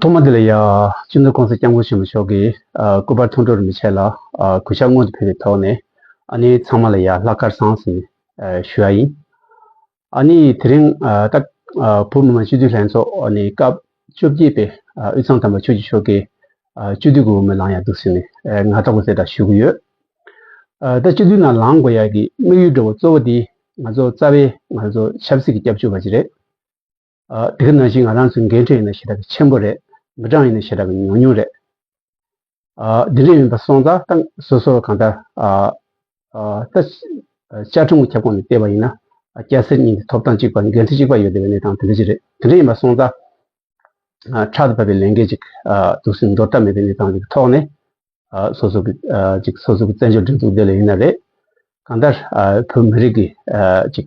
ཐོག་མ་དེ་ལ་ཡང་སྤྱི་མཐུན་ཀུང་སི་སྐྱབས་མགོན་ཆེན་མོ་མཆོག་གིས་སྐུ་པར་ཐོང་སྤྲོར་མི་བྱེད་ལ་གུས་ཕྱག་སྔོན་དུ་ཕུལ་བའི་ཐོག་ནས་ཨ་ནེ་ཚང་མ་ལ་ཡང་ལྷག་དཀར་བཟང་ཟིན་ཞུ་ཡ་ཡིན། ཨ་ནེ་ཡིས་དེ་རིང་ཏཱ་བུ་མི་མང་སྤྱི་འཐུས་ལྷན་ཚོགས་ནས་སྐབས་བཅོ་བརྒྱད་པའི་དབུས་གཙང་དམ་པ་ཆོས་རྗེ་མཆོག་གི་སྤྱི་འཐུས་ཀྱི་འོས་མི་ལང་ཡག་འདུག་ཟེར་ནས་ང་ལྟ་བུ་ཟེར་གྲྭ་ཞུ་གི་ཡོད། ད་སྤྱི་འཐུས་ནང་ལང་དགོས་ཡག་གི་དམིགས་ཡུལ་འགྲོ་བ་གཙོ་བོ་དེ་ང་ཚོ་རྩ་བའི་ང་ཚོ་ཆབ་སྲིད་ཀྱི་སྐྱབས་བཅོལ་བ་ཅིག་རེད། དེ་ག་ནང་བཞིན་ང་རང་ཚོའི་འགན་འཁྲི་ཡིན་ན་ཞེ་དྲག་གི་ཆེན་པོ་རེད། མི་གྲངས་ཡིན་ན་ཞེ་དྲག་གི་ཉུང་ཉུང་རེད། འདི་འདྲ་ཡིན་པ་སོང་ཙང་ཏང་སོ་སོར་གང་ལྟར་ད་བཅའ་ཁྲིམས་ཁྱབ་ཁོངས་ནས་བལྟས་པ་ཡིན་ན་སྐྱ་སེར་གཉིས་ཀྱི་ཐོབ་ཐང་གཅིག་པ་འགན་འཁྲི་གཅིག་པ་ཡོད་དེ་བས་གནས་སྟངས་དེ་འདྲ་ཅིག་རེད། དེ་འདྲ་ཡིན་པ་སོང་ཙང་ཕྲག་ཏུ་བབས་པའི་ལས་འགན་ཅིག་དུག་སེལ་འདོར་ཐབས་མེད་པའི་གནས་སྟངས་ཀྱི་ཐོག་ནས་སོ་སོ་གི་ཅིག་སོ་སོ་གི་བཙན་བྱོལ་སྒྲིག་འཛུགས་བདེ་ལེགས་ཡིན་ན་རེད། གང་ལྟར་བོད་མི་རིགས་ཀྱི་ཅིག་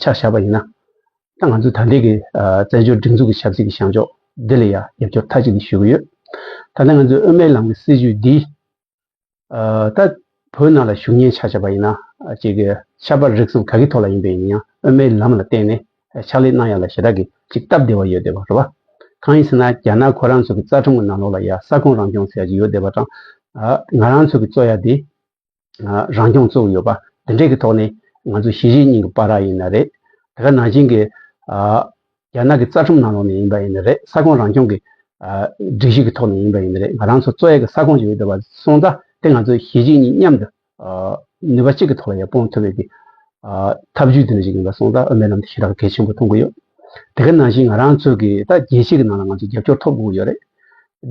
ཆ་བཞག་པ་ཡིན་ན། ད་ང་ཚོས་ད་ལྟའི་གི་བཙན་བྱོལ་སྒྲིག་འཛུགས་ཀྱི་ཆབ་སྲིད་ཀྱི་བྱང་ཕྱོགས་འདི་ལ་ཡང་རྒྱབ་སྐྱོར་མཐའ་གཅིག་ཏུ་ཞུ་གི་ཡོད། ད་ལྟ་ང་ཚོས་དབུ་མའི་ལམ་གྱི་སྲིད་བྱུས་འདིས། ད་བོད་ནང་ལ་ཞུགས་ཉེན་ཆ་བཞག་པ་ཡིན་ན། གཅིག་གི་ཆབ་པ་རིག་གསུམ་ག་གི་ཐོག་ལ་ཡིན་པའི་ཡིན་ཡང་དབུ་མའི་ལམ་ལ་བརྟེན་ནས་ཕྱག་ལས་གནང་ཡ་ལ་ཞེ་དྲག་གི་ཅིག་སྟབས་བདེ་བ་ཡོད་བསྡད་པ་རེད་བ། གང་ཡིན་ཟེར་ན་རྒྱ་ནག་ཁོ་རང་ཚོ་གི་རྩ་ཁྲོམ་གྱི་ནང་ལོགས་ལ་ཡ་ས་ཁོངས་རང་སྐྱོང་ཟེར་ཡ་ཅིག་ཡོད་བསྡད་པ་དང། ང་རང་ཚོ་གི་གཙོ་ཡ་དེ། རང་སྐྱོང་བཙུགས་ཡོད་པ་འདི་འདྲའི་གི་ཐོག་ནས་ང་ཚོ་གཞིས་བྱེས་གཉིས་ཀྱི་པ་ར་ཡིན་ན་རེད། དེ་ག་ནང་བཞིན་གི་རྒྱ་ནག་གི་རྩ་ཁྲིམས་ནང་ལོགས་ནས་ཡིན་པ་ཡིན་ན་རེད་ས་ཁོངས་རང་སྐྱོང་གི་སྒྲིག་གཞི་གི་ཐོག་ནས་ཡིན་པ་ཡིན་ན་རེད་ང་རང་ཚོ་གཙོ་ཡག་གི་ས་ཁོངས་ཀྱི་ཡོད་པ་སོང་ཙང་དེ་ང་ཚོ་གཞིས་བྱེས་གཉིས་མཉམ་དུ་ནུས་པ་གཅིག་གི་ཐོག་ལ་ཡང་སྤོང་ཐུབ་པའི་གི་ཐབས་ཇུས་འདི་འདྲ་ཞིག་ཡིན་པ་སོང་ཙང་ཨ་མའི་ལམ་དུ་ཞེ་དྲག་གལ་ཆེན་པོ་མཐོང་གི་ཡོད། དེ་ག་ནང་བཞིན་ང་རང་ཚོས་ཀྱི་ད་རྒྱལ་སྤྱི་གི་ནང་ལ་ང་ཚོས་རྒྱབ་སྐྱོར་ཐོབ་དགོས་ཡོད་རེད།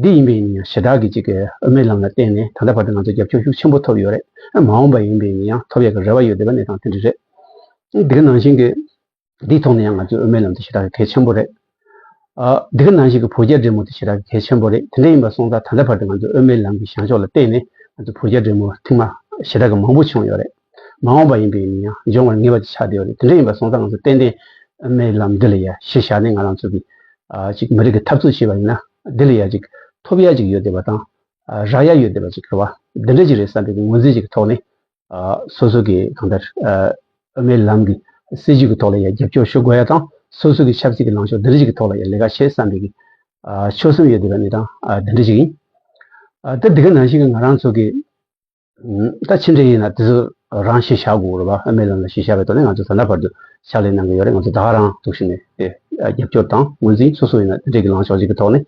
འདི་ཡིན་པའི་ཡིན་ཡང་ཞི་དྲག་གི་གཅིག་གི་དབུ་མའི་ལམ་ལ་བརྟེན་ནས་ད་ལྟ་བར་དུ་ང་ཚོས་རྒྱབ་སྐྱོར་ཤུགས་ཆེན་པོ་ཐོབ་ཡོད་རེད། མ་འོངས་པ་ཡིན་པའི་ཡིན་ཡང་ཐོབ་ཡ་གི་རེ་བ་ཡོད་འདི་ག་གནས་སྟངས་དེ་འདྲ་རེད། འདི་ག་ནང་བཞིན་གྱི་འདིའི་ཐོག་ནས་ཡང་ང་ཚོས་དབུ་མའི་ལམ་དེ་ཞི་དྲག་གི་གལ་ཆེན་པོ་རེད། འདི་ག་ནང་བཞིན་གྱི་བོད་རྒྱ་འབྲེལ་མོ་དེ་ཞི་དྲག་གི་གལ་ཆེན་པོ་རེད་དེ་འདྲ་ཡིན་པ་སོང་ཙང་ད་ལྟ་བར་དུ་ང་ཚོས་དབུ་མའི་ལམ་གྱི་བྱང་ཕྱོགས་ལ་བརྟེན་ནས་ང་ཚོས་བོད་རྒྱ་འབྲེལ་མོ་ཐེངས་མ་ཞི་དྲག་གི་མང་པོ་བྱུང་ཡོད་རེད། མ་འོངས་པ་ཡིན་པས་ཡིན་ཡང་འབྱུང་བར་ངེས་པ་དེ་ཆགས་བདེ་བ་རེད་དེ་འདྲ་ཡིན་པ་སོང་ཙང་ང་ཚོ་ཏན་ཏན་མའི་ལམ་འདི་ལ་ཡ་ཞེས་བཞག་ནས་ང་རང་ཚོ་གི་ཅིག་མི་རིགས་ཀྱི་འཐབ་རྩོད་བྱེད་པ་ཡིན་ན་དེ་ལ་ཡ་ཅིག་ཐོབ་ཡ་ཅིག་ཡོད་བདེ་བ་དང་རག་ཡ་ཡོད་བདེ་བ་ཅིག་ཁེལ་བ་འདི་འདྲ་ཅིག་རེད་བསམ་པའི་ངོས་འཛིན་ཞིག་གི་ཐོག་ནས་སོ་སོ་གི་གང་ལྟར་དབུ་མའི་ལམ་གི་སྲིད་ཇུས་ཀྱི་ཐོག་ལ་ཡ་རྒྱབ་སྐྱོར་ཞུ་དགོས་ཡ་དང་སོ་སོ་གི་ཆབ་སྲིད་ཀྱི་ལངས་ཕྱོགས་འདི་འདྲ་ཅིག་གི་ཐོག་ལ་ཡ་ལས་ཀ་བྱེད་བསམ་པའི་གི་ཆོད་སེམས་ཡོད་བདེ་བ་ནི་དང་འདི་འདྲ་ཅིག་ཡིན། ད་འདི་ག་ནང་བཞིན་གྱི་ང་རང་ཚོ་གི། ད་ཕྱིན་ཆད་ཡིན་ན་དེ་ཚོ་རང་ཤེས་བྱ་དགོས་རེད་བ་ཨ་མའི་ལམ་ལ་ཤེས་བྱ་བའི་ཐོག་ནས་ང་ཚོ་ད་ལྟ་བར་དུ་ཕྱག་ལས་གནང་གི་ཡོད་རེད་ང་ཚོ་ད་ག་རང་ཐུགས་ཞིག་ནས་དེ་རྒྱབ་སྐྱོར་དང་ངོས་འཛིན་སོ་སོ་ཡིན་ན་དེ་འདྲའི་གི་ལངས་ཕྱོགས་ཤིག་གི་ཐོག་ནས་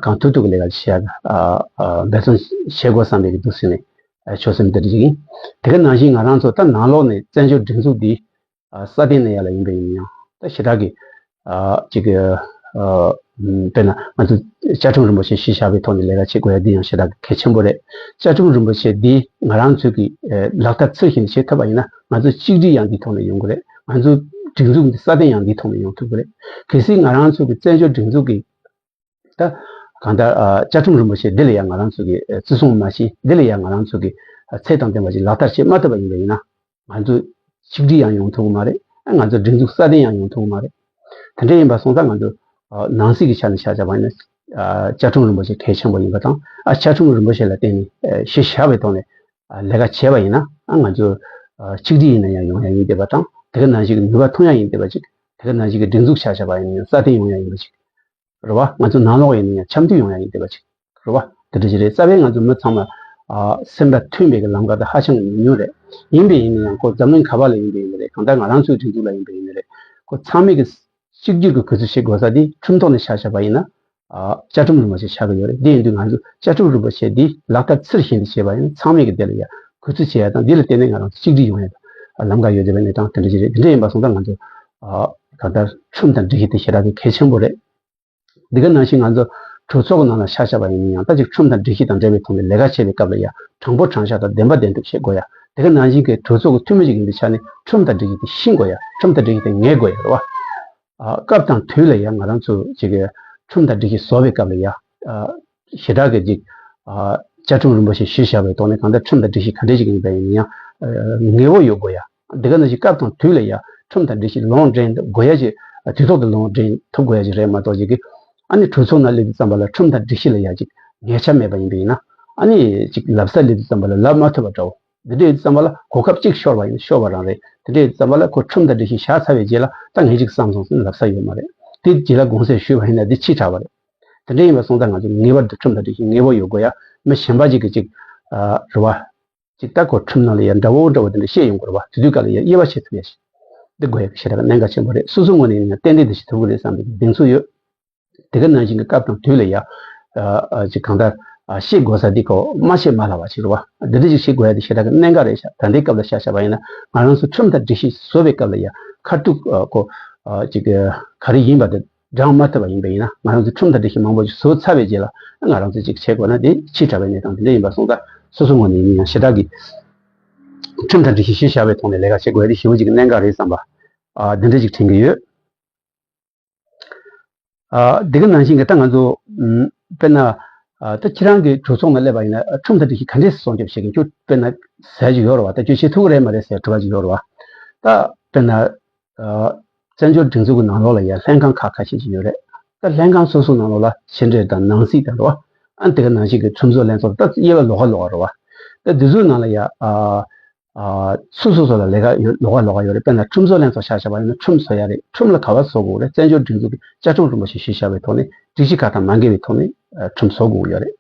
གང་ཐུབ་ཐུབ་ཀྱི་ལས་ཀ་ཞིག་བྱས་ཨ་འབད་བརྩོན་བྱེད་དགོས་བསམ་པའི་གི་འདུག་ཟེར་ནས་ཆོད་སེམས་དེ་འདྲ་ཞིག་ཡིན་དེ་ག་ནང་བཞིན་ང་རང་ཚོ་ད་ནང་ལོགས་ནས་བཙན་བྱོལ་སྒྲིག་འཛུགས་འདི་ས་སྟེང་ན་ཡར་ལ་ཡིན་པའི་ཡིན་ཡང་ད་ཞེ་དྲག་གི། ཅིག། དཔེར་ན་ང་ཚོ་བཅའ་ཁྲིམས་རིན་པོ་ཆེ་གཞི་བཞག་པའི་ཐོག་ནས་ལས་ཀ་བྱེད་དགོས་ཡ་འདི་ཡང་ཞེ་དྲག་གི་གལ་ཆེན་པོ་རེད། བཅའ་ཁྲིམས་རིན་པོ་ཆེ་འདི་ང་རང་ཚོས་ཀྱི་ལག་བསྟར་ཚུལ་བཞིན་བྱེད་ཐུབ་པ་ཡིན་ན་ང་ཚོ་གཅིག་སྒྲིལ་ཡང་འདི་ཐོག་ནས་ཡོང་གི་རེད་ང་ཚོ་སྒྲིག་འཛུགས་འདི་ས་སྟེང་ཡང་འདི་ཐོག་ནས་ཡོང་ཐུབ་ཀྱི་རེད། གལ་སྲིད་ང་རང་ཚོ་གི་བཙན་བྱོལ་སྒྲིག་འཛུགས་ཀྱི། ད། གང་ལྟར། བཅའ་ཁྲིམས་རིན་པོ་ཆེ་འདི་ལ་ཡང་ང་རང་ཚོ་གིས་བརྩི་སྲུང་མ་བྱས་འདི་ལ་ཡང་ང་རང་ཚོ་གིས་ཚད་དང་ལྡན་པ་ཞིག་ལག་བསྟར་བྱེད་མ་ཐུབ་པ་ཡིན་པ་ཡིན་ན། ང་ཚོས་ཆིག་སྒྲིལ་ཡང་ཡོང་ཐུབ་ཀྱི་མ་རེད། ང་ཚོས་སྒྲིག་འཛུགས་སྲ་བརྟན་ཡང་ཡོང་ཐུབ་ཀྱི་མ་རེད། དེ་འདྲ་ཡིན་པ་སོང་ཙང་ང་ཚོས་ནང་སྲིད་ཀྱི་ཆ་ནས་བྱ་བྱ་བ་ཡིན་ན། བཅའ་ཁྲིམས་རིན་པོ་ཆེ་གལ་ཆེན་པོ་ཡིན་པ་དང་བཅའ་ཁྲིམས་རིན་པོ་ཆེ་ལ་བརྟེན་ནས་ཤེས་བྱ་བའི་ཐོག་ནས་ལས་ཀ་བྱས་པ་ཡིན་ན། ང་ཚོས་ཆིག་སྒྲིལ་ཡིན་ན་ཡང་ཡོང་ཡ་ཡིན་བསྡད་པ་དང་དེ་ག་ནང་བཞིན་གྱི་ནུས་པ་ཐོན་ཡ་ཡིན་བསྡད་པ་ཅིག་དེ་ག་ནང་བཞིན་གྱི་སྒྲིག་འཛུགས་བྱ་བྱ་བ་ཡིན་ན་ཡང་སྲ་བརྟན་ཡོང་ཡ་ཡིན་པ་ཅིག་རེད་བ། ང་ཚོ་ནང་ལོག་ཡིན་ན་ཡང་འཆམ་མཐུན་ཡོང་ཡ་ཡིན་བསྡད་པ་ཅིག་རེད་བ། དེ་འདྲ་ཞིག་རེད་རྩ་བའི་ང་ཚོ་མི་ཚང་མ། སེམས་པ་མཐུན་པའི་ལམ་ཁ་དེ་ཧ་ཅང་གི་ཉུང་ཉུང་རེད། ཡིན་པས་ཡིན་ན་ཡང་ཁོ་འཛམ་གླིང་ག་པ་ལ་ཡིན་པས་ཡིན་པ་རེད་གང་ལྟར་ང་རང་ཚོའི་སྒྲིག་འཛུགས་ལ་ཡིན་པས་ཡིན་པ་རེད། ཁོ་ཚང་མས་གིས་གཅིག་གྱུར་གྱི་གུས་ཚུལ་ཞིག་དགོས་ས་དེ་ཁྲིམས་ཐོག་ནས་ཆགས་ཆགས་པ་ཡིན་ན། བཅའ་ཁྲིམས་རུལ་བ་ཞིག་ཆགས་གི་ཡོད་རེད་དེ་ཡིན་དུས་ང་ཚོས་བཅའ་ཁྲིམས་རུལ་བ་བྱས་དེ་ལག་བསྟར་ཚུལ་བཞིན་དུ་བྱས་པ་ཡིན་ན་ཚང་མས་གིས་དེ་ལ་ཡང་གུས་ཚུལ་བྱེད་ཡ་དང་དེ་ལ་བརྟེན་ནས་ང་རང་ཚོ་གཅིག་སྒྲིལ་ཡོང་ཡ་དང་ལམ་ཁ་ཡོད་བསྡད་པའི་གནས་སྟངས་དེ་འདྲ་ཞིག་རེད་དེ་འདྲ་ཡིན་པ་སོང་ཙང་ང་ཚོ་ད་ལྟ་ཁྲིམས་དང་སྒྲིག་གཞི་དེ་ཞེ་དྲག་གི་གལ་ཆེན་པོ་རེད། འདི་ག་ནང་བཞིན་ང་ཚོ་གྲོས་ཚོགས་ནང་ལ་ཤ་བཞག་པ་ཡིན་མིན་ཡང་ད་ཅིག་ཁྲིམས་དང་སྒྲིག་གཞི་དང་འབྲེལ་བའི་ཐོག་ནས་ལས་ཀ་བྱེད་པའི་སྐབས་ལ་ཡང་དྲང་པོ་དྲང་བཞག་དང་བདེན་པ་བདེན་གྲུབ་བྱེད་དགོས་ཡ། འདི་ག་ནང་བཞིན་གྱི་གྲོས་ཚོགས་ཀྱི་འཐུས་མི་ཞིག་ཡིན་པའི་ཆ་ནས་ཁྲིམས་དང་སྒྲིག་གཞི་དེ་ཤེས་དགོས་ཡ་ཁྲིམས་དང་སྒྲིག་གཞི་དེ་ངེས་དགོས་ཡ་རེད་བ། སྐབས་དང་དུས་ལ་ཡང་ང་རང་ཚོ་ཅིག་ཁྲིམས་དང་སྒྲིག་གཞི་བཟོ་བའི་སྐབས་ལ་ཡང་ཞེ་དྲག་གི་ཅིག་བཅའ་ཁྲིམས་རིན་པོ་ཆེ་གཞིར་བཞག་པའི་ཐོག་ནས་གང་ལྟར་ཁྲིམས་དང་སྒྲིག་གཞི་ག་འདྲ་ཞིག་ཡིན་པ་ཡིན་མིན་ཡང་ངེས་བོ་ཡོད་དགོས་ཡ། འདི་ག་ནི་ཞིག་སྐབས་དང་དུས་ལ་ཡ་ཁྲོམ་དང་འབྲེལ་ཞིང་ལོངས་འདྲེན་དགོས་ཡ་ཞིག་དུས་ཐོག་ཏུ་ལོངས་འདྲེན་ཐུབ་དགོས་ཡ་ཞིག་རེད་མ་གཏོགས་ཅིག་ཨ་ནི་གྲོས་ཚོགས་ནང་སླེབས་དུས་ཙམ་པ་ལ་ཁྲོམ་དང་སྒྲིག་གཞི་ལ་ཡ་ཅིག་ངེས་ཆ་མེད་པ་ཡིན་པས་ཡིན་ན་ཨ་ནི་ཅིག་ལབ་སར་སླེབས་དུས་ཙམ་པ་ལ་ལབ་མ་ཐུབ་པ་འདྲ་བོ་འདི་འདྲ་ཡོད་དུས་ཙམ་པ་ལ་གོ་སྐབས་གཅིག་ཤོར་བ་ཡིན་ན་ཤོར་བ་རང་རེད་དེ་འདྲ་ཡོད་དུས་ཙམ་པ་ལ་ཁོ་ཁྲོམ་དང་སྒྲིག་གཞི་བཞག་ཚར་བའི་རྗེས་ལ་ད་ངས་ཅིག་བསམ་སོང་ཟེར་ན་ལབ་ས་ཡོད་མ་རེད་དེ་རྗེས་ལ་དགོངས་སེལ་ཞུས་པ་ཡིན་ན་དེ་ཕྱིས་དྲག་པ་རེད་དེ་འདྲ་ཡིན་པ་སོང་ད་ང་ཚོ་ངེས་པར་དུ་ཁྲོམ་དང་སྒྲིག་གཞི་ངེས་པོ་ཡོད་དགོས་ཡ་མི་གཞན་པ་ཅིག་གིས་ཅིག་རེ་བ་ཅིག་ལྟ་གོ་ཁྲམ་ནང་ལ་ཡང་འདྲ་བོ་འདྲ་བོ་དེ་འདྲ་བཤད་ཡོང་དགོས་རེད་བ་དེ་དུས་ག་ལ་ཡ་དབྱེ་བ་བྱེད་ཐུབ་ཡ་ཞིག་འདི་དགོས་ཡ་གི་ཞེ་དྲག་གནད་འགག་ཆེན་པོ་རེད་སོ་སོ་ངོས་ནས་ཡིན་ན་ཏན་ཏན་འདི་བྱེད་ཐུབ་ཀི་རེད་བསམ་པའི་གདེང་ཚོད་ཡོད། དེ་ག་ནང་བཞིན་གི་སྐབས་དང་དུས་ལ་ཡ། ཅིག་གང་ལྟར། ཤེས་དགོས་ས་འདི་གོ་མ་ཤེས་མ་ལ་བ་ཞིག་རེད་བ། འདི་འདྲ་ཅིག་ཤེས་དགོས་ཡ་དེ་ཞེ་དྲག་གི་གནད་འགག་རེད་ཤག་ད་འདི་སྐབས་ལ་ཤག་བྱ་བ་ཡིན་ན་ང་རང་ཚོ་ཁྲིམས་ལྟར་སྒྲིག་གཞི་བཟོ་བའི་སྐབས་ལ་ཡ་ཁ་ཐུག་གོ། ཅིག་ག་རེ་ཡིན་པ་དེ། འགྲངས་མ་ཐུབ་པ་ཡིན་པས་ཡིན་ན་ང་རང་ཚོའི་ཁྲིམས་དང་འགྲེལ་བཤད་མང་པོ་ཞིག་བཟོ་ཚར་བའི་རྗེས་ལ་ང་རང་ཚོས་ཅིག་བྱེད་དགོས་ན་དེ་ཕྱིས་དྲ་བའི་གནས་སྟངས་དེ་འདྲ་ཡིན་པ་སོང་ཙང་སོ་སོའི་ངོས་ནས་ཡིན་ན་ཡང་ཞེ་དྲག་གིས་ཁྲིམས་དང་འགྲེལ་བཤད་ཤེས་བྱ་བའི་ཐོག་ནས་ལས་ཀ་བྱེད་དགོས་ཡ་དེ་ཞི་བོ་ཅིག་གི་གནད་འགག་རེད་བསམ་པ་འདི་འདྲ་ཅིག་དྲན་གྱི་ཡོད། དེ་ག་ནང་བཞིན་གྱི་ད་ང་ཚོ་དཔེར་ན་ད་ཁྱེད་རང་གི་གྲོས་ཚོགས་ནང་སླེབས་པ་ཡིན་ན་ཁྲིམས་དང་འགྲེལ་བཤད་ག་འདྲས་སྲོང་སྐྱོབ་བྱེད་མཁན་ཁྱོད་དཔེར་ན་ཟས་ཅིག་ཡོད་རེད་བ་ད་ཁྱོད་བྱེད་ཐུབ་ཀྱི་རེད་མ་རེད་ཟེར་གྲོ་ག་ཅིག་ཡོད་རེད་བ་ད་དཔེར་ན་བཙན་བྱོལ་སྒྲིག་འཛུགས་ཀྱི་ནང་ལོགས་ལ་ཡང་ལྷན་ཁང་ཁག་ཁ་ཤས་ཤིག་ཡོད་རེད་ད། ལྷན་ཁང་སོ་སོའི་ནང་ལོགས་ལ་ཕྱི་འབྲེལ་དང་ནང་སྲིད་དང་རེད་བ། ཨ་འདི་ག་ནང་བཞིན་གྱི་ཁྲོམ་བཟོ་ལེན་ཚོར་ད་དབྱེ་བ་ལོག་ག་ལོག་ག་རེད་བ། ད་འདི་ཚོའི་ནང་ལ་ཡང་སུ་སོ་སོ་ལ་ལས་ཀ་ཡོད་ལོག་ག་ལོག་ག་ཡོད་རེད་དཔེར་ན་ཁྲོམ་བཟོ་ལེན་ཚོར་ཤ་ཤ་བ་ཡིན་ན་ཁྲོམ་བཟོ་ཡ་རེད་ཁྲོམ་ལ་ག་བ་བཟོ་དགོས་རེད་བཙན་བྱོལ་སྒྲིག་འཛུགས་ཀྱི་བཅའ་ཁྲོམ་རིན་པོ་ཆེ་ཞེས་བྱ་བའི་ཐོག་ནས་སྒྲིག་གཞི་ཁག་དང་མ་འགལ་བའི་ཐོག་ནས་ཁྲོམ་བཟོ་དགོས་ཀྱི་ཡོད་རེད།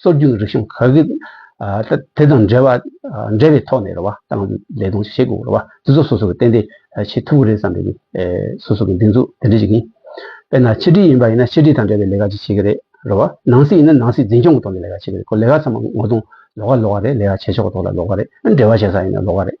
སྲོལ་རྒྱུན་རིག་གཞུང་ག་གེ་དེ་དང་འབྲེལ་བའི་ཐོག་ནས་རེ་བ་དང་ལས་དོན་བྱེད་དགོས་པ་དེ་ཚོ་སོ་སོ་གིས་ཏན་ཏན་བྱེད་ཐུབ་ཀྱི་རེད་བསམ་པའི་སོ་སོ་གི་སྡིགས་མཛུབ་དེ་འདྲ་ཞིག་ཡིན། དཔེར་ན་ཕྱི་དྲིལ་ཡིན་པ་ཡིན་ན་ཕྱི་དྲིལ་དང་འབྲེལ་བའི་ལས་ཀ་ཅིག་བྱེད་ཀྱི་རེད་རེ་བ། ནང་སྲིད་ཡིན་ན་ནང་སྲིད་འཛིན་སྐྱོང་གི་ཐོག་ནས་ལས་ཀ་བྱེད་ཀྱི་རེད་ཁོ་ལས་ཀ་ཚང་མ་ངོ་གདོང་ལོག་ཀ་ལོག་ཀ་རེད་ལས་ཀ་བྱེད་ཕྱོགས་གི་ཐོག་ལ་ལོག་ཀ་རེད་འབྲེལ་བ་བྱེད་ས་ཡིན་ན་ལོག་ཀ་རེད།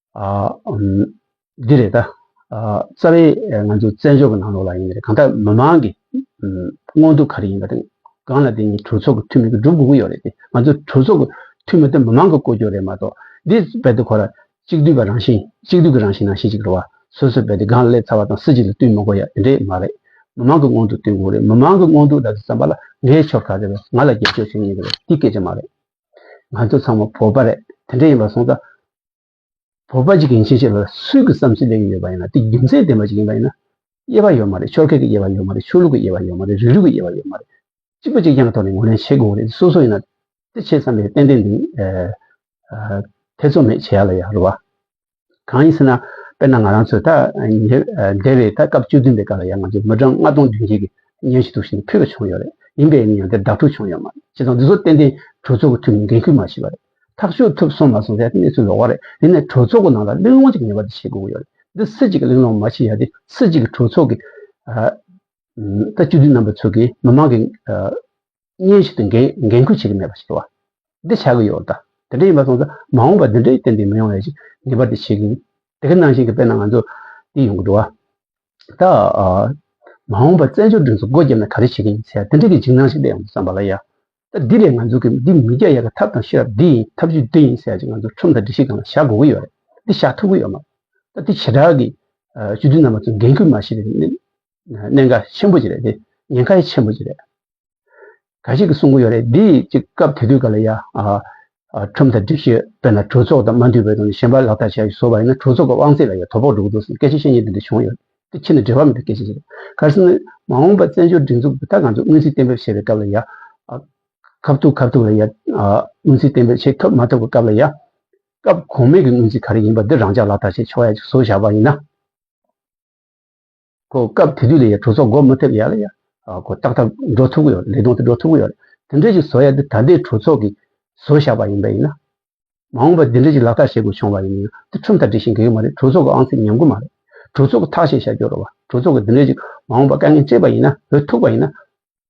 འདི་རེད་ད། རྩ་བའི་ང་ཚོའི་བཙན་བྱོལ་གྱི་ནང་ལོགས་ལ་ཡིན་ནའི་གང་ལྟར་མི་མང་གི་མངོན་འདོད་ག་རེ་ཡིན་པ་དང་གང་ལ་བརྟེན་ནས་གྲོས་ཚོགས་ཀྱི་འཐུས་མི་སྒྲུབ་དགོས་ཀྱི་ཡོད་རེད་དེ། ང་ཚོ་གྲོས་ཚོགས་ཀྱི་འཐུས་མི་དེ་མི་མང་གི་བསྐོ་སྐྱོང་རེད་མ་གཏོགས་འདི་རྦད་དེ་ཁོ་ར་གཅིག་སྡུད་པ་རང་བཞིན་གཅིག་སྡུད་ཀྱི་རང་བཞིན་ནང་བཞིན་ཅིག་རེད་བ། སོ་སོས་རྦད་དེ་སྒང་ལ་སླེབས་ཚར་བ་དང་སུ་གཅིག་ལ་བསྟུན་མི་དགོས་ཡ་དེ་འདྲས་མ་རེད། མི་མང་གི་མངོན་འདོད་བསྟུན་དགོས་རེད་མི་མང་གི་མངོན་འདོད་ལ་བསམ་པ་ལ་ངའི་ཕྱོགས་ག་རེ་རེད་ང་ལ་རྒྱབ་སྐྱོར་བྱེད་མཁན་ག་རེ་རེད་འདི་སྐད་ཆ་མ་རེད། ང་ཚོ་ཚང་མ་བོད་པ་རེད་དེ་འདྲས་ཡིན་པ་སོང་ཙང་བོད་པ་ཞིག་གི་མཆན་ཞིག་ལ་སུས་ཀྱི་བསམ་ཚུལ་ལེན་གྱི་ཡོད་པ་ཡིན་ན་དེ་རྒྱུ་མཚན་ལྡན་པ་ཞིག་ཡིན་པ་ཡིན་ན་དབྱེ་བ་ཡོད་མ་རེད་ཆོལ་ཁའི་དབྱེ་བ་ཡོད་མ་རེད་ཆོས་ལུགས་ཀྱི་དབྱེ་བ་ཡོད་མ་རེད་རིགས་རུས་ཀྱི་དབྱེ་བ་ཡོད་མ་རེད་གཅིག་པུ་གཅིག་རྐྱང་གི་ཐོག་ནས་ངོས་ལེན་བྱེད་དགོས་རེད་སོ་སོ་ཡིན་ན་དེ་བྱེད་བསམ་པའི་ཏན་ཏན་འདི་ཐེ་ཚོམ་མེད་བྱེད་ཡག་ལ་ཡག་རེད་བ། གང་ཡིན་ཟེར་ན་དཔེར་ན་ང་རང་ཚོས་ད་ཉེ་འདས་བའི་ད་སྐབས་བཅུ་བདུན་པའི་སྐབས་ལ་ཡང་ང་ཚོས་མི་གྲངས་ལྔ་སྟོང་བདུན་བརྒྱད་ཀྱི་སྙན་ཞུ་ཐུགས་ཞེན་ཕུལ་བ་བྱུང་ཡོད་རེད་ཡིན་པའི་ཡང་དེར་བདག་ཕྲུག་བྱུང་ཡོད་མ་རེད་བྱས་ཙང་འདི་ཚོ་ཏན་ཏན་གྲོས་ཚོགས་ཀྱི་ཐུགས་ནས་འགན་ཁུར་མ་བྱས་པ་རེད། ཐག་གཅོད་ཐུབ་སོང་མ་སོང་དེ་གནས་ཚུལ་ལོགས་བ་རེད་དེ་ནས་གྲོས་ཚོགས་ཀྱི་ནང་ལ་གླེང་སློང་གཅིག་ངེས་པར་དུ་བྱེད་དགོས་ཀྱི་ཡོད་རེད་འདི་སྲིད་སྤྱི་གི་གླེང་སློང་མ་བྱེད་ཡ་དེ་སྲིད་སྤྱི་གི་གྲོས་ཚོགས་ཀྱི་ད་བཅུ་བདུན་རྣམ་པ་ཚོས་ཀྱིས་མི་མང་གི་སྙན་ཞུ་དང་འགན་ཁུར་བྱེད་ཀྱི་མེད་པ་ཞིག་རེད་བ་འདི་བྱ་གི་ཡོད་རེད་ད་དེ་འདྲ་ཡིན་པ་སོང་ཙང་མ་འོངས་པར་འདི་འདྲའི་ཏན་ཏིག་མི་ཡོང་བ་ཞིག་ངེས་པར་དུ་བྱེད་དགོས་ཀྱི་འདི་ག་ནང་བཞིན་གྱི་དཔེར་ན་ང་ཚོ་འདི་ཡོང་གི་འགྲོ་བ་ད་མ་འོངས་པར་བཙན་བྱོལ་སྒྲིག་འཛུགས་སྒོ་བརྒྱབ་ན་ག་རེ་བྱེད་ཀྱི་ཡིན་ཟེར་ཡ་དེ་འདྲ་གི་འཇིགས་སྣང་ཞིག་སླེབས་ཡོང་དུ་བསམ་པ་ལ་ཡ། ད་འདི་ལས་ང་ཚོ་གིས་འདི་མི་རྒྱག་ཡ་གི་ཐབས་དང་ཤེས་རབ་འདི་ཡིན་ཐབས་ཇུས་འདི་ཡིན་ཟེར་ཡ་ཅིག་ང་ཚོ་ཁྲོམ་དང་སྒྲིག་གཞི་སྒང་ལ་བཞག་དགོས་ཀྱི་ཡོད་རེད་འདི་བཞག་ཐུབ་ཀྱི་ཡོད་མ་རེད་ད་འདི་བྱེ་བྲག་གི་བཅུ་བདུན་རྣམ་པ་ཚོ་འགན་ཁུར་མ་ཤེས་པའི་གནད་འགག་ཆེན་པོ་ཅིག་རེད་དེ་ཉེན་ཁ་ཡི་ཆེན་པོ་ཅིག་རེད། ག་ཞིག་གིས་གསུང་གི་ཡོད་རེད་འདི་ཅིག་སྐབས་དེ་དུས་ག་ལ་ཡ། ཁྲིམས་དང་སྒྲིག་གཞི་དཔེར་ན་གྲོས་ཚོགས་དང་མ་འདུས་པའི་ཐོག་ནས་གཞན་པ་ལག་བསྟར་བྱས་བཟོ་བ་ཡིན་ན་གྲོས་ཚོགས་ཀྱི་དབང་ཚད་ལ་ཡང་དོ་ཕོག་འགྲོ་གི་འདུག་སྐད་ཆ་བཤད་ཉེས་དེ་འདྲ་བྱུང་ཡོད་དེ་ཕྱི་ནས་འབྲེལ་བ་མེད་པའི་སྐད་ཆ་ཞིག་རེད་གལ་སྲིད་མ་འོངས་པར་བཙན་བྱོལ་སྒྲིག་འཛུགས་ཀྱི་ད་གང་ཚུགས་སྔོན་རྩིས་གཏན་འབེབས་བྱས་པའི་སྐབས་ལ་ཡང། ཁ་བཏུག་ཁ་བཏུག་ལ་ཡང། སྔོན་རྩིས་གཏན་འབེབས་བྱེད་ཐུབ་མ་ཐུབ་ཀྱི་སྐབས་ལ་ཡང། སྐབས་གོང་མའི་གི་སྔོན་རྩིས་ག་རེ་ཡིན་པ་འདི་རང་ཅག་ལག་བསྟར་བྱས་ཆོག་ཡ་བཟོ་བཞག་པ་ཡིན་ན། ཁོ་སྐབས་དེ་དུས་ལ་ཡང་གྲོས་ཚོགས་འགོ་མི་ཐེབས་ཡ་ལ་ཡང་ཁོ་ཏག་ཏག་འགྲོ་ཐུབ་ཀྱི་ཡོད་རེད་ལས་དོན་དེ་འགྲོ་ཐུབ་ཀྱི་ཡོད་རེད་དེ་འདྲས་ཞིག་བཟོ་ཡ་དེ་ད་ལྟའི་གྲོས་ཚོགས་ཀྱིས་བཟོ་བཞག་པ་ཡིན་པས་ཡིན། མ་འོངས་པར་དེ་འདྲས་ཞིག་ལག་བསྟར་བྱེད་དགོས་བྱུང་བ་ཡིན་ན་ཡང་དེ་ཁྲིམས་ལྟར་འགྲིག་ཞིང་འགལ་གྱི་མ་རེད་གྲོས་ཚོགས་ཀྱི་ཨང་རྩིས་ཉམས་དགོས་མ་རེད་གྲོས་ཚོགས་ཀྱི་ཐག་བཅད་བཞག་རྒྱུ་རེད་བ་གྲོས་ཚོགས་ཀྱིས་དེ་འདྲས་ཞིག་མ་འོངས་པར་དཀའ་ངལ་སྤྱད་པ་ཡིན་ན་བོད་ཐུག་པ་ཡིན་ན།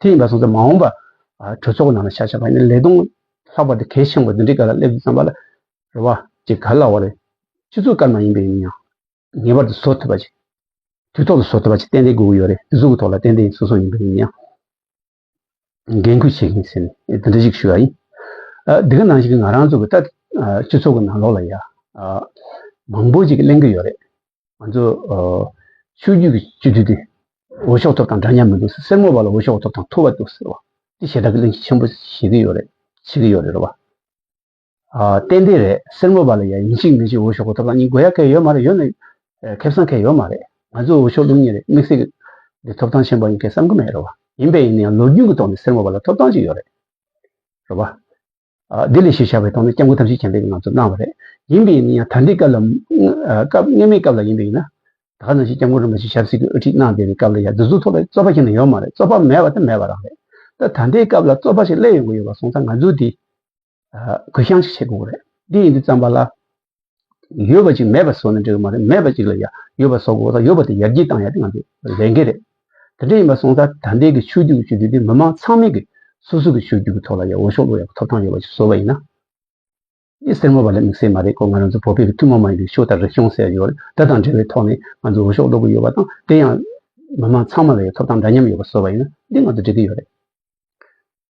དེ་ཡིན་པ་སོང་ཚེ་མ་འོངས་པ་གྲོས་ཚོགས་ནང་ལ་བྱ་བྱ་བ་ཡིན་ལས་དོན་ལྷག་པ་དེ་གལ་ཆེན་པོ་འདི་འདྲའི་ག་ལ་སླེབས་འདུག་བསམ་པ་ལ་ཅིག་ག་ལ་བ་རེད། སྤྱི་ཚོགས་སྐར་མ་ཡིན་པའི་ཡིན་ཡང་ངེས་པར་དུ་བཟོ་ཐུབ་པ་ཅིག་དུས་ཐོག་ཏུ་བཟོ་ཐུབ་པ་ཅིག་ཏན་ཏན་དགོས་ཀྱི་ཡོད་རེད་དེ་གཟུགས་ཀྱི་ཐོག་ལ་ཏན་ཏན་སོ་སོ་ཡིན་པའི་ཡིན་ཡང་འགན་ཁུར་བྱེད་མཁན་ཟེར་ནས་དེ་འདྲ་ཞིག་ཞུས་པ་ཡིན། འདི་ག་ནང་བཞིན་ང་རང་ཚོ་གི་ལྟ་སྤྱི་ཚོགས་ཀྱི་ནང་ལོགས་ལ་ཡ་མང་པོ་ཅིག་གླེང་གི་ཡོད་རེད། ང་ཚོ་ཆོས་རྒྱུད་ཀྱི་སྤྱི་འཐུས་དེ་འོས་ཤོག་ཐོབ་དང་འདྲ་མཉམ་མི་འདུག་སེར་མོ་བ་ལ་འོས་ཤོག་ཐོབ་དང་ཐུ་བ་འདུག་ཟེར་བ་དེ་ཞེ་དྲག་གི་གླེང་གཞི་ཆེན་པོ་བྱེད་ཀྱི་ཡོད་རེད་བྱེད་ཀྱི་ཡོད་རེད་བ། ཏན་ཏན་རེད་སེར་མོ་བ་ལ་ཡ་ཡིན་ཅིག་མིན་ཅིག་འོས་ཤོག་གོ་ཐོབ་དང་གཉིས་དགོས་ཡ་གལ་ཡོད་མ་རེད་ཡོད་ན་ཁེབས་སང་གལ་ཡོད་མ་རེད་ང་ཚོས་འོས་ཤོག་བླུག་ཉེ་རེད་དམིགས་བསལ་གྱི་ཐོབ་ཐང་ཆེན་པོ་ཡིན་སྐད་བསམ་གྱི་མེད་རེད་བ་ཡིན་པས་ཡིན་ན་ཡང་ལོ་རྒྱུས་ཀྱི་ཐོག་ནས་སེར་མོ་བ་ལ་ཐོབ་ཐང་ཅིག་ཡོད་རེད་བ། དེ་ལས་ཞེས་བྱ་བའི་དོན་ནི་སྐྱབས་མགོན་ཐམས་ཅད་མཁྱེན་པས་ང་ཚོར་གནང་བ་རེད། ཡིན་པས་ནི་ད་ལྟའི་སྐབས་ལ་སྐབས་སྔ་མའི་སྐབས་ལ་ཡིན་པས་ན། ད་ནང་བཞིན་སྐྱབས་མགོན་རིན་པོ་ཆེ་ཞབས་བསིལ་གྱིས་དབུ་ཁྲིད་གནང་བསྡད་པའི་སྐབས་ལ་ཡང་འདི་ཚོ་ཐོག་ལ་རྩོད་པ་གཞན་ནས་ཡོད་མ་རེད་རྩོད་པ་མེད་པ་དེ་མེད་པ་རང་རེད། ད་ད་ལྟའི་སྐབས་ལ་རྩོད་པ་ཞིག་སླེབས་ཡོང་གི་ཡོད་པ་སོང་ཙང་ང་ཚོས་དེ་གུ་བཤངས་ཤིག་བྱེད་དགོས་རེད། འདི་ཡིན་འདི་བརྩམས་པ་ལ་ཡོད་པ་ཅིག་མེད་པར་བཟོ་ནས་འགྲིག་གི་མ་རེད་མེད་པ་ཅིག་ལ་ཡོད་པར་བཟོ་དགོས་དང་ཡོད་པ་དེ་ཡར་རྒྱས་བཏང་ཡ་དེ་ང་ཚོའི་ལས་འགན་རེད། དེ་འདྲ་ཡིན་པར་སོང་ཙང་ད་ལྟའི་གི་ཆོས་རྒྱུད་ཀྱི་ཆོས་བསྡུ་དེ་མི་མང་ཚང་མས་ཀྱི་སོ་སོ་ཀྱི་ཆོས་རྒྱུད་ཀྱི་ཐོག་ལ་ཡ་འོ་ཤོག་བླུག་ཡ་ཐོབ་ཐང་ཡོད་པ་ཞིག་བཟོ་བ་ཡིན་ན། ཡིད་སེར་མོ་བ་ལས་མིག་སེར་མ་རེད་ཁོ་ང་རང་ཚོ་བོད་པའི་གི་ཐུན་མོང་མ་ཡིན་པའི་ཤོ་དང་རིག་གཞུང་ཟེར་ཡོད་དེ་དང་འབྲེལ་བའི་ཐོག་ནས་ང་ཚོས་འོ་ཤོག་བླུག་གི་ཡོད་པ་དང་དེ་ཡང་མི་མང་ཚང་མ་ལ་ཡ་ཐོབ་ཐང་འདྲ་མཉམ་ཡོད་པར་བཟོ་བ་ཡིན་ན་འདི་ང་ཚོ་འགྲིག་གི་ཡོད་རེད།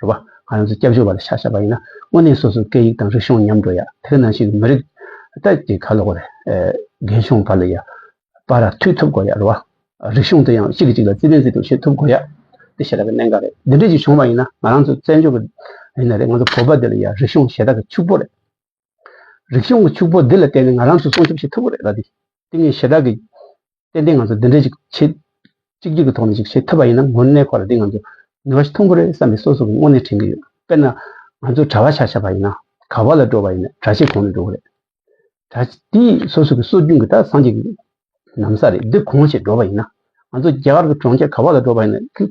རེད་བ། ང་རང་ཚོ་སྐྱབས་བཅོལ་བ་ལ་ཤ་ཤ་བ་ཡིན་ན་དངོས་གནས་སོ་སོའི་སྐད་ཡིག་དང་རིག་གཞུང་ཉམས་འགྲོ་ཡ་དེ་ག་ནང་བཞིན་མི་རིགས་ད་ཀྱི་ཁ་ལོ་རྒན་གཞོན་བ་ལ་ཡ་བ་ར་ཐུག་ཐུབ་དགོ་ཡ་རེད་བ། རིག་གཞུང་དེ་ཡང་གཅིག་གི་གཅིག་ལ་བརྩི་བའི་བརྩི་བའི་བྱེད་ཐུབ་དགོ་ཡ་དེ་ཤེས་ར་གི་གནད་འགག་རེད་འདི་འདྲས་ཅིག་བྱུང་བ་ཡིན་ན་ང་རང་ཚོ་བཙན་བྱོལ་བ་ཡིན་ན་རེད་ང་ཚོ་བོད་པ་དེ་ལ་ཡ་རིག་གཞུང་ཞེ་དྲག་གི་ཕྱུག་པོ་རེད། རིག་གཞུང་གི་ཕྱུག་པོ་འདི་ལ་བརྟེན་ནས་ང་རང་ཚོས་སྲུང་སྐྱོབ་བྱེད་ཐུབ་ཀྱི་རེད་ལ། དེ་ངས་ཞེ་དྲག་གིས་ཏན་ཏན་ང་ཚོ་འདི་འདྲའི་ཞིག་བྱེད། གཅིག་གྱུར་གྱི་ཐོག་ནས་ཞིག་བྱེད་ཐུབ་པ་ཡིན་ན་མགོ་གནས་ཁོ་ལ་འདི་ང་ཚོ་ནུས་པ་ཞིག་ཐོན་གི་རེད་བསམ་པའི་སོ་སོ་གི་སྔོན་ནས་དྲན་གྱི་ཡོད། དཔེར་ན། ང་ཚོས་གྲྭ་བ་ཆ་ཆ་བ་ཡིན་ན། ག་བ་ལ་འགྲོ་བ་ཡིན་ན་གྲྭ་ཆས་གོང་ནས་འགྲོ་གི་རེད། གྲྭ་དེ་སོ་སོ་གི་སྲོལ་རྒྱུན་གྱི་དག་སངས་རྒྱས་ཀྱི་གནམ་ས་རེད་འདི་གོང་ཞེས་འགྲོ་བ་ཡིན་ན། ང་ཚོ་རྒྱ་གར་གྱི་གྲོང་ཁྱེར་ག་བ་ལ་འགྲོ་བ་ཡིན་ན།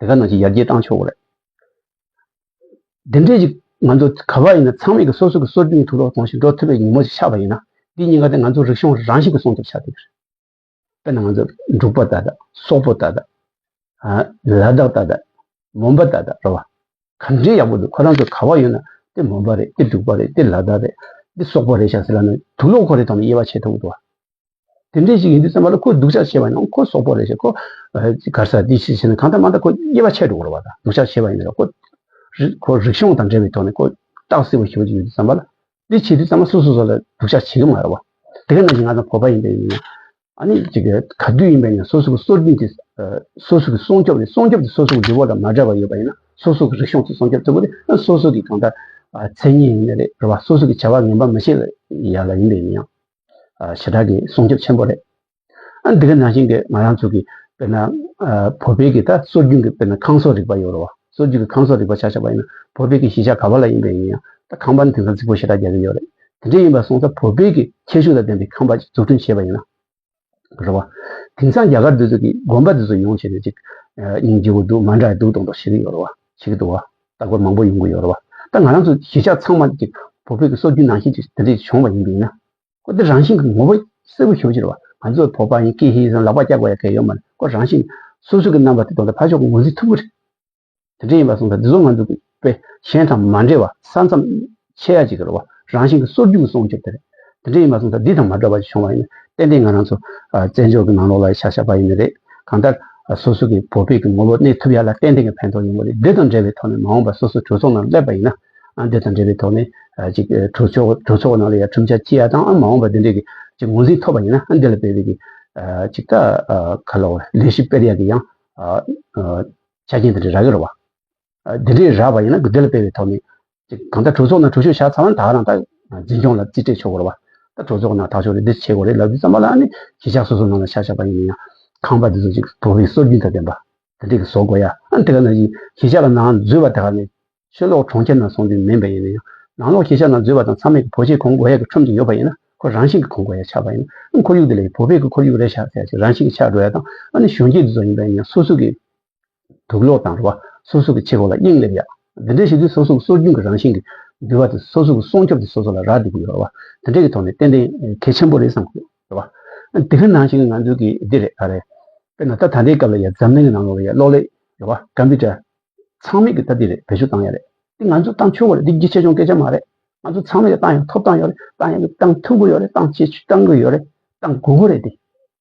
དེ་ག་ནང་བཞིན་ཡར་རྒྱས་བཏང་ཆོག་གི་རེད། དེ་འདྲའི་ཞིག་ང་ཚོ་ག་པར་ཡིན་ན་ཚང་མས་ཀྱི་སོ་སོ་ཀྱི་སྲོལ་རྒྱུན་ཐུགས་ལོག་གཏོང་ཞིང་འགྲོ་ཐུབ་པའི་ཉིན་མོ་ཞིག་ཆགས་པ་ཡིན་ན་དེའི་ཉེན་ཁ་དེ་ང་ཚོ་རིག་གཞུང་རང་ཞིག་གི་སྲུང་སྐྱོབ་བྱ་དགོས་རེད། དཔེར་ན་ང་ཚོ་འབྲུག་པ་ད་ད། སོག་པོ་ད་ད། ལ་དྭགས་ད་ད། མོན་པ་ད་ད་རེད་བ། ག་འདྲའི་ཡག་པོ་འདུག་ཁོ་རང་ཚོ་ག་བར་ཡོད་ན་དེ་མོན་པ་རེད་དེ་འབྲུག་པ་རེད་དེ་ལ་དྭགས་རེད་དེ་སོག་པོ་རེད་བྱ་ཟེར་ལ་ནི་དུག་ལོག་ཁོ་རེ་ཐོག་ནས་དབྱེ་བ་ཕྱེ་ཐུབ་ཀྱི་འདུག་བ། དེ་འདྲས་ཞིག་ཡིན་དུས་སེམས་པ་ལ་ཁོ་སྡུག་ཅག་བྱེད་པ་ཡིན་ཁོ་སོག་པོ་རེད་ཞེས་ཁོ་གར་ས་འདི་ཞིག་བྱས་ན་གང་ལྟར་མ་ལྟར་ཁོ་དབྱེ་བ་ཕྱེད་དུ་འགོར་བ་དང་སྡུག་ཅག་བྱེད་པ་ཡིན་ནོ་ཁོ་ཁོ་རིག་གཞུང་དང་འབྲེལ་བའི་ཐོག་ནས་ཁོ་སྟག་སེར་པོ་ཞིག་ཡོད་དུས་བསམ་པ་ལ་འདི་བྱས་དུས་བསམ་པ་སོ་སོ་སོ་ལ་སྡུག་ཅག་བྱེད་ཀྱི་མ་རེད་བ། དེ་ག་ནང་བཞིན་ང་ཚོ་བོད་པ་ཡིན་པས་ཡིན། ཨ་ནི་གཅིག་ག་དུས་ཡིན་པས་ཡིན་སོ་སོ་གི་སྲོལ་རྒྱུན་དེ་སོ་སོ་གི་སྲུང་སྐྱོབ་ནི་སྲུང་སྐྱོབ་དེ་སོ་སོ་གི་འདུ་བོ་དང་མ་འདྲ་བ་ཡོད་པ་ཡིན་ན་སོ་སོ་གི་རིག་གཞུང་དེ་སྲུང་སྐྱོབ་ཐུབ་པོ་དེ་ཨ་ནི་སོ་སོ་གི་གང་ལྟར་མཚན་ཉིད་ཡིན་ནི་རེད་བ་སོ་སོ་གི་བྱ་བ་ངན་པ་མི་བྱེད་ཡ་ལ་ཡིན་པས་ཡིན་ཡང། ཞེ་དྲག་གི་སྲུང་སྐྱོབ་ཆེན་པོ་རེད། འདི་ག་ནང་བཞིན་གྱི་ང་རང་ཚོ་གི་དཔེར་ན་བོད་པའི་གི་ད་སྲོལ་རྒྱུན་གྱི་དཔེར་ན་ཁང་སོགས་རིག་པ་ཡོད་རུང་བ་སྲོལ་རྒྱུན་གྱི་ཁང་སོགས་རིག་པ་ཆགས་ཆགས་པ་ཡིན་ན་བོད་པའི་གི་གཞིས་ཆགས་ག་བ་ལ་ཡིན་པའི་ཡིན་ཡང་ད་ཁང་པ་ནི་དེང་སང་རྫིག་པོ་ཞེ་དྲག་རྒྱག་གི་ཡོད་རེད། དེ་འདྲ་ཡིན་པར་སོང་ཙང་བོད་པའི་གི་ཁྱད་ཤུགས་ལ་ལྡན་པའི་ཁང་པ་ཅིག་འཛུགས་སྐྲུན་བྱས་པ་ཡིན་ན་རེད་བ། དེང་སང་རྒྱ་གར་འདི་ཚོ་གི་དགོན་པ་འདི་ཚོ་ཡོང་བྱས་ནས་ཅིག་ཉིན་བརྗེ་བོ་འདུག་མ་འདྲ་འདུག་གཏོང་གཏོང་བྱེད་གི་ཡོད་རུང་བ་བྱེད་གི་འདུག་བ། རྟག་པར་མང་པོ་ཡོང་གི་ཡོད་རེད་བ། ད་ང་རང་ཚོ་གཞིས་ཆགས་ཚང་མ་གཅིག་བོད་ཕོད་ཀྱི་སྲོལ་རྒྱུན་ནང་བཞིན་གྱི་དེ་འདྲས་བྱུང་བ་ཡིན་པས་ན། ཁོ་དེ་རང་བཞིན་གྱི་ངོ་བོ་གསལ་བོ་ཞུ་རྒྱུ་རེད་བ། ང་ཚོ་བོད་པ་ཡིན་ཀི་ཧེ་ཟེར་ལག་པ་བཀྱག་པ་ཡ་གལ་ཡོད་མ་རེད་ཁོ་རང་བཞིན་སོ་སོ་གྱི་རྣམ་པ་དེ་དོན་དུ་ཕར་ཕྱོགས་ངོས་འཛིན་ཐུབ་ཀྱི་རེད། དེ་འདྲས་ཡིན་པ་སོང་ཙང་འདི་ཚོ་ང་ཚོ་བོད་གཞན་དང་མ་འདྲེས་བ་ས་མཚམས་ཆེ་ཡ་གཅིག་གི་རེད་བ། རང་བཞིན་གྱི་སོར་རྒྱུག་གི་སྲུང་སྐྱོབ་དེ་རེད། དེ་འདྲ་ཡིན་པ་སོང་ཙང་འདི་དང་མ་འདྲ་བ་ཞིག་བྱུང་བ་ཡིན་ན་ཏན་ཏན་ང་རང་ཚོ་བཙན་བྱོལ་གྱི་ནང་ལོག་ལ་ཡི་ཤ་ཤ་པ་ཡིན་ནི་རེད། གང་ལྟར་སོ་སོ་གྱི་བོད་ཕད་ཀྱི་ངོ་བོ་གནས་ཐུབ་ཡ་ལ་ཏན་ཏན་གྱི་ཕན་ཐོག་ཡོང་གི་རེད་འདི་དང་འབྲེལ་བའི་ཐོག་ནས་མ་འོངས་པར་སོ་སོ་གྲོས་ཚོགས་ནང་སླེབས་པ་ཡིན་ན་འདི་དང་འབྲེལ་བའི་ཐོག་ནས་གཅིག་གྲོས་ཚོགས་གྲོས་ཚོགས་ནང་ལ་ཡ་ཁྲིམས་ཆ་གཅིག་ཡ་དང་ཨང་མ་འོངས་པར་འདི་འདྲའི་གི་གཅིག་ངོས་འཛིན་ཐོབ་པ་ཡིན་ན་འདི་ལ་བལ་བོད་ཀྱི་གཅིག་ད་ག་ལོག་ལས་ཞིབ་པེར་ཡ་གི་ཡང་ཆ་རྐྱེན་དེ་འདྲ་རག་གི་རེད་བ། དེ་འདྲའི་ར་བ་ཡིན་ན་གུ་དེལ་སྤེལ་བའི་ཐོག་ནས། གང་ལྟར་གྲོས་ཚོགས་ནང་གྲོས་ཆོད་བཞག་ཚར་ན་དག་རང་དག་འཛིན་སྐྱོང་ལ་རྩིས་སྤྲད་ཆོག་གོ་རེད་བ། ད་གྲོས་ཚོགས་ནང་དག་ཆོག་རེད་འདི་བྱེད་དགོས་རེད་ལབ་རྒྱུ་ཙམ་པ་ལ་ནི་གཞིས་ཆགས་སོ་སོ་ནང་ལ་ཆ་བཞག་པ་ཡིན་ན་ཡང། ཁང་པ་འདི་ཚོ་ཅིག་བོད་པའི་སྲོལ་རྒྱུན་དང་ལྡན་པ། དེ་འདྲས་ཀྱི་བཟོ་དགོས་ཡ། ཨ་དེ་ག་ནང་གཞིས་ཆགས་ལ་ནང་འཛུལ་བ་དག་ནི། ཆོས་ལོག་གྲོང་ཁྱེར་ནང་སོང་དུས་མིན་པ་ཡིན་ན་ཡང། ནང་ལོག་གཞིས་ཆགས་ནང་འཛུལ་བ་དང་མཚམས་མེད་ཀྱི་བོད་ཆས་གོང་བགོ་ཡ་གི་ཁྲོམ་དུ་ཡོད་པ་ཡིན་ན། ཁོ་རང་བཞིན་གྱི་གོང་བགོ་ཡ་ཆགས་པ་ཡིན་ན། ཁོར་ཡུག་དེ་ལ་ཡང་བོད་པའི་གི་ཁོར་ཡུག་རེད་ཤག་ཟེར་ཡ་ཞིག་རང་བཞིན་གྱི་ཆགས་འགྲོ་ཡ་དང། ཨ་ནི་གཞོན་སྐྱེས་འདི་ཚོ་ཡིན་པ་ཡིན་ཡང་སོ་སོ་གི། དུག་གློག་དང་རུ་བ་སོ་སོ་གི་ཕྱི་རོལ་ལ་དབྱིངས་སླེབས་ཡག་འདི་འདྲའི་ཞིབ་འཇུག་སོ་སོ་གི་སྲོལ་རྒྱུན་གྱི་རང་བཞིན་གྱི་འགྱུར་བ་དེ་སོ་སོ་གི་སྲོག་སྐྱོབ་ཀྱི་སོ་སོ་ལ་རག་འདི་གི་ཡོད་ར་བ་དེ་འདྲའི་གི་ཐོག་ནས་ཏན་ཏན་གལ་ཆེན་པོ་རེད་བསམ་གི་ར་བ། དེ་གི་ནང་བཞིན་ང་ཚོའི་གི་འདི་རེད་ཨ་རེད་དཔེར་ན་ད་ད་ལྟའི་སྐབས་ལ་ཡ་འཛམ་གླིང་གི་ནང་ལོགས་ལ་ཡ་གློག་ཀླད་ར་བ Computer ཚང་མས་གི་ད་འདི་རེད་བེད་སྤྱོད་བཏང་ཡ་རེད་འདི་ང་ཚོས་བཏང་ཆོས་གོ་རེད་འདི་གི་ཆེ་ཆུང་སྐད་ཆ་མ་རེད་ང་ཚོ་ཚང་མས་གི་བཏང་ཡ་ཐོབ་བཏང་ཡོད་རེད་བཏང་ཡ་གི་བཏང་ཐུབ་གི་ཡོད་རེད་བཏང་བྱེད་བཏང་གི་ཡོད་རེད་བཏང་དགོས་གི་རེད་འདི་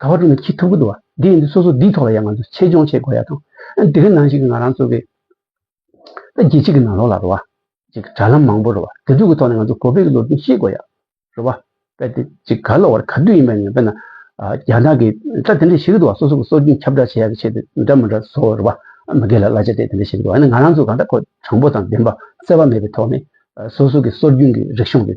དགའ་བ་དྲུག་ནི་ཁྱི་ཐུག་པོ་འདུག་བ་འདི་ཡིན་འདུག་སོ་སོ་འདིའི་ཐོག་ལ་ཡང་ང་ཚོས་ཆེད་སྦྱོང་བྱེད་དགོས་ཡ་དང། འདི་གི་ནང་ཞིག་གི་ང་རང་ཚོ་གི། ད་རྒྱལ་སྤྱི་གི་ནང་ལོགས་ལ་རུ་བ། ཅིག་དྲ་ལམ་མང་པོ་རུ་བ་དེ་ཚོ་གི་ཐོག་ནས་ང་ཚོ་གོ་བེད་ཀྱི་ལོ་རྒྱུས་ཤེས་དགོས་ཡ། རུ་བ། པེ་ཏི་ཅིག་ག་ལོག་བར་ག་དུས་ཡིན་པ་ནས་བེད་ན། རྒྱ་ནག་གི་དྲ་དེ་འདྲ་ཞིག་འདུག་བ་སོ་སོ་གི་སྲོལ་རྒྱུན་ཁྱབ་བསྒྲགས་བྱེད་ཡ་གི་ཆེད་དུ་འདྲ་མི་འདྲ་བཟོ་རུ་བ། མི་སྒེར་ལ་གླ་ཆ་དེ་དེ་འདྲ་ཞིག་འདུག་བ་ཡིན་ན་ང་རང་ཚོ་གང་འདྲ་ཁོ་དྲང་པོ་དང་བདེན་པ་བརྩེ་བ་མེད་པའི་ཐོག་ནས། སོ་སོ་གི་སྲོལ་རྒྱུན་གྱི་རིག་གཞུང་གི།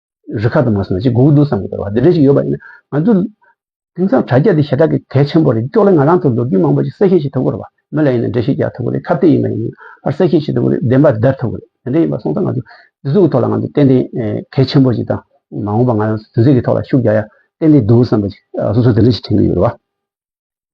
རི་ཁ་དུ་མ་སོང་ན་ཅི་གོ་འདུག་བསམ་གྱི་འདུག་བ་དེ་འདྲ་ཞིག་ཡོད་པ་ཡིན་ན་ང་ཚོ་དེང་སང་དྲ་རྒྱ་འདི་ཞེ་དྲག་གི་གལ་ཆེན་པོ་རེད་ཀྱོག་ལེ་ང་རང་ཚོ་ལོ་རྒྱུས་མང་པོ་ཞིག་གསལ་བཤད་བྱེད་ཐུབ་དགོས་རེད་བ་མི་ལ་ཡིན་ན་འགྲེལ་བཤད་རྒྱག་ཐུབ་དགོས་རེད་ཁ་བརྡའི་ཡིན་པ་ཡིན་ཡང་ཕར་གསལ་བཤད་བྱེད་ཐུབ་དགོས་རེད་བདེན་པ་བརྡར་ཐུབ་དགོས་རེད་དེ་འདྲ་ཡིན་པ་སོང་ཙང་ང་ཚོ་འདི་ཚོ་གི་ཐོག་ལ་ང་ཚོ་ཏན་ཏན་གལ་ཆེན་པོ་ཞིག་དང་མ་འོངས་པ་ང་རང་ཚོ་དེ་ཚོ་གི་ཐོག་ལ་ཤུགས་རྒྱག་ཡ་ཏན་ཏན་འདུག་བསམ་པ་ཞིག་སོ་སོ་དེ་འདྲ་ཞིག་དྲན་གྱི་ཡོད་རེད་བ།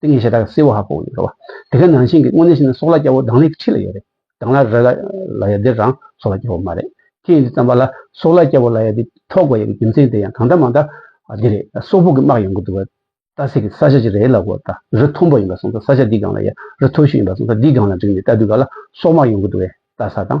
ཏིང་ངེ་འཆི་བདག་གིས་བསིལ་བ་ཧ་གོ་བ་ཡོད། དེ་ག་ནང་བཞིན་གྱི་དངོས་གནས་ཤེས་ན་སྲོག་ལ་སྐྱ་བོ་སྡང་ལེགས་ཁྲི་ལ་ཡོད་རེད། སྡང་ལ་ར་ལ་ཡ་འདི་རང་སྲོག་ལ་སྐྱ་བོ་མ་རེད། ཁྱེད་ཀྱིས་བརྩམས་པ་ལ་སྲོག་ལ་སྐྱ་བོ་ལ་ཡ་འདི་ཐོག་དགོས་ཡོད་པའི་རྒྱུ་མཚན་དེ་ཡང་གང་འདྲ་མང་འདྲ་འདི་རེད། སོག་ཕུག་གི་དམག་ཡོང་གི་འདུག་བལྟ་སེ་གི་ས་ཆ་ཅིག་རེད་ལ་གོ་ད་རི་མཐོན་པོ་ཡིན་པ་སོང་ད་ས་ཆ་འདིའི་སྒང་ལ་ཡ་རི་མཐོ་ཤོས་ཡིན་པ་སོང་ད་འདིའི་སྒང་ལ་འགྲིག་ནས་ལྟ་དུས་ག་ལ་སོག་དམག་ཡོང་གི་འདུག་བལྟ་ས་དང།